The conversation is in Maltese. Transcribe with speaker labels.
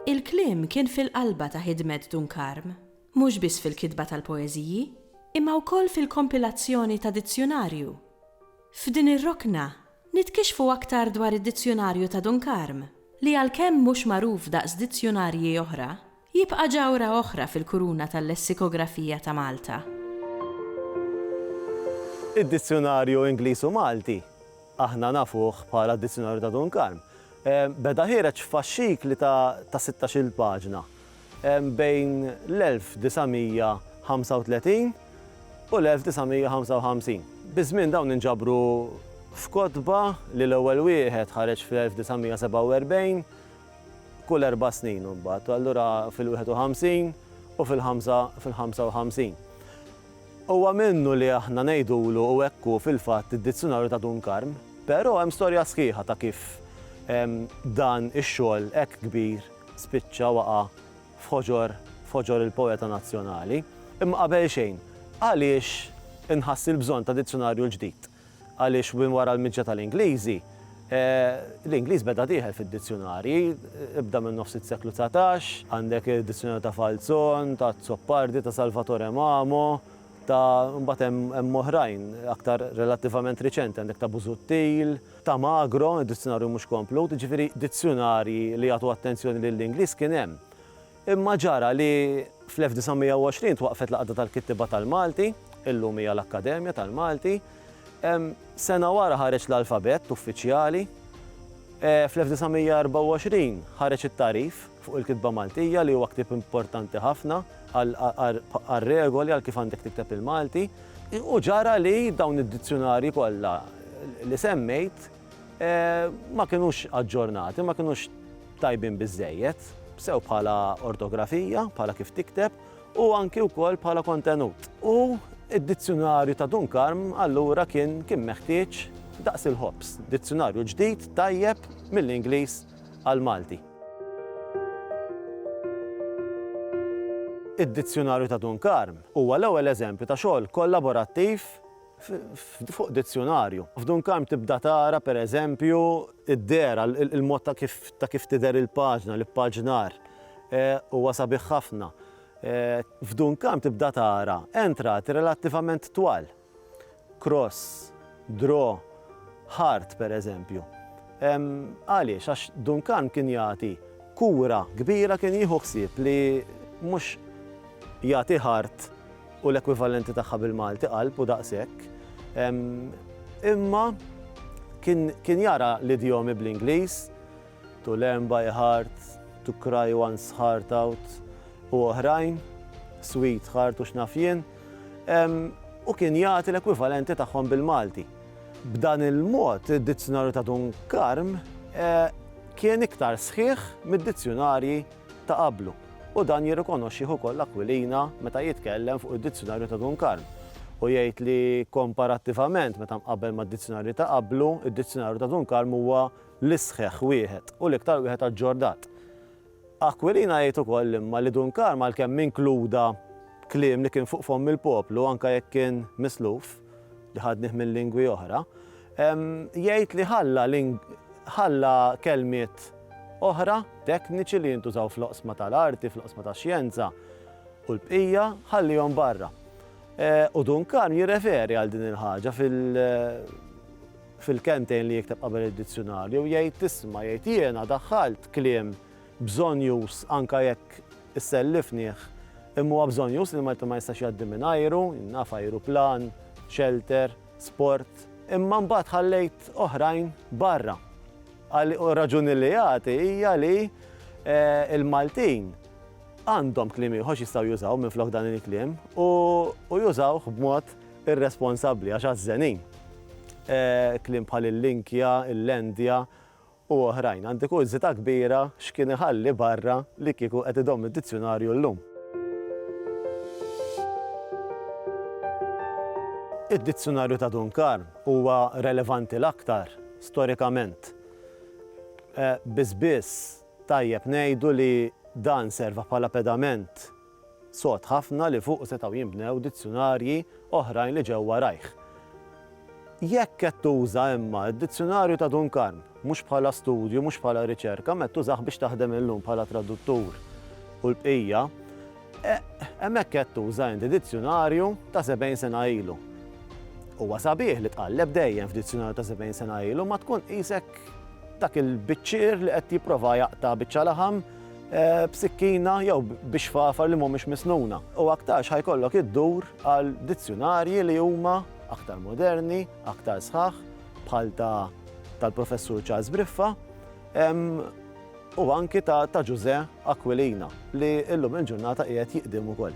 Speaker 1: Il-kliem kien fil-qalba ta' ħidmet Dun Karm, mhux biss fil-kitba tal-poeżiji, imma wkoll fil-kompilazzjoni ta' dizzjunarju. F'din ir-rokna Nitkixfu aktar dwar id-Dizzjunarju ta' Dun Karm, li għalkemm mhux magħruf daqs dizzjunarji oħra, jibqa' ġawhra oħra fil-kuruna tal-lessikografija ta' Malta. Id-Dizzjunarju Ingliż u Malti, aħna nafuh bħala d-Dizzjunarju ta' Dun Karm, beda ħiereġ f'faxxikli ta' sittax-il paġna, bejn l-1935 u l-1955. Biż-żmien dawn inġabru f'kotba li l-ewwel wieħed ħareġ fl-1947, kull erba' snin imbagħad, u allura fil-51 u fil-55. Huwa minnu li aħna ngħidulu u hekk hu fil-fatt id-Dizzjunarju ta' Dun Karm, però hemm storja sħiħa ta' kif dan ix-xogħol hekk kbir, spiċċa waqa' f'ħoġor f'ħoġor il-poeta nazzjonali. Imma qabel xejn, għaliex inħass il-bżonn ta' dizzjonarju l-ġdid? Għaliex minn wara l-miġja tal-Ingliżi, l-Ingliż beda dieħel fid-dizzjunarji, ibda minn nofs is-seklu dsatax, għandek id-dizzjunarju ta' Falzon, ta' Azzopardi, ta' Salvatore Mamo, ta' mbagħad hemm oħrajn aktar relattivament riċenti, għandek ta' Busuttil, ta' Magro, id-dizzjunarju mhux komplut, jiġifieri dizzjunarji li jagħtu attenzjoni lill-Ingliż kien hemm. Imma ġara li fl-1920 twaqqfet l-Għaqda tal-Kittieba tal-Malti, illum hija l-Akkademja tal-Malti. Sena wara ħareġ l-alfabett uffiċjali. Fl-1924 ħareġ it-Tagħrif fuq il-Kitba Maltija li huwa ktieb importanti ħafna għar-regoli għal kif għandek tikteb il-Malti. U ġara li dawn id-dizzjunarji kollha li semmejt ma kinux aġġornati, ma kinux tajbin biżżejjed, sew bħala ortografija, bħala kif tikteb, u anki wkoll bħala kontenut. U d-dizzjunarju ta' Dun Karm allura kien kien meħtieġ daqs il-ħobż, dizzjunarju ġdid tajjeb mill-Ingliż għall-Malti. Id-Dizzjunarju ta' Dun Karm huwa l-ewwel eżempju ta' xogħol kollaborattiv fuq dizzjunarju. F'Dun Karm tibda tara, per eżempju, id-dehra, il-mod ta' kif ta' kif tidher il-paġna, l-ippaġnar. Huwa sabiħ ħafna. F'Dun Karm tibda tara entrat relattivament twal. cross, draw, heart pereżempju. Għaliex? Għax Duncan kien jagħti kura kbira, kien jieħu ħsieb li mhux jagħti heart u l-ekwivalenti tagħha bil-Malti qalb u daqshekk, imma kien jara l-idjomi bl-Ingliż, To Learn by Heart, To Cry One's Heart Out u oħrajn, Sweetheart u x'naf jien, u kien jagħti l-ekwivalenti tagħhom bil-Malti. B'dan il-mod, id-Dizzjunarju ta' Dun Karm kien iktar sħiħ mid-dizzjunarji ta' qablu, u dan jirrikonoxxih ukoll Aquilina meta jitkellem fuq id-Dizzjunarju ta' Dun Karm, u jgħid li komparattivament meta mqabbel mad-dizzjunarji ta' qablu, id-Dizzjunarju ta' Dun Karm huwa l-isħħ wieħed u l-iktar wieħed aġġornat. Aquilina jgħid ukoll imma li Dun Karm għalkemm inkluda kliem li kien fuq fomm il-poplu anke jekk kien misluf, li ħadnih minn lingwi oħra, jgħid li ħalla ħalla kelmiet oħra tekniċi li jintużaw fl-oqsma tal-arti, fl-oqsma tax-xjenza u l-bqija ħallihom barra. U Dun Karm jirreferi għal din il-ħaġa fil- Fil-kelmtejn li jikteb qabel id-dizzjunarju jgħid isma' jgħid jiena daħħalt kliem bżonjuż anke jekk issellifnih imma huwa bżonjuż li Malti ma jistax jgħaddi minn ajru, naf ajruplan, shelter, sport, imma mbagħad ħallejt oħrajn barra. Għal u r-raġuni li jagħti hija li l-Maltin għandhom kliem ieħor x'jistgħu jużaw minflok dan il-kliem u jużawh b'mod irresponsabbli għax għażżenin. Kliem bħal il-linkja, il-lendja u oħrajn. Għandi kurżità kbira x'kien iħalli barra li kieku qed idomm id-dizzjunarju llum. Id-dizzjunarju ta' Dun Karm huwa relevanti l-aktar storikament. Biss biss tajjeb ngħidu li dan serva bħala pedament sod ħafna li fuqu setgħu jinbnew dizzjunarji oħrajn li ġew warajh. Jekk qed tuża imma d-Dizzjunarju ta' Dun Karm, mhux bħala studju, mhux bħala riċerka, imma qed tużah biex taħdem illum bħala traduttur u l-bqija, hemmhekk qed tuża inti dizzjunarju ta' sebgħin sena ilu. Huwa sabiħ li tqalleb dejjem f'dizzjunarju ta' sebgħin sena ilu imma tkun qisek dak il-biċċier li qed jipprova jaqta' biċċa laħam eh, b'sikkina jew biex fafar li mhumiex misnuna. U aktarx ħajkollok iddur għal dizzjunarji li huma aktar moderni, aktar sħaħ, bħal ta' tal-professur Charles Briffa, u anki ta' ta' Ġużè Aquilina li illum il-ġurnata qiegħed jiqdim ukoll.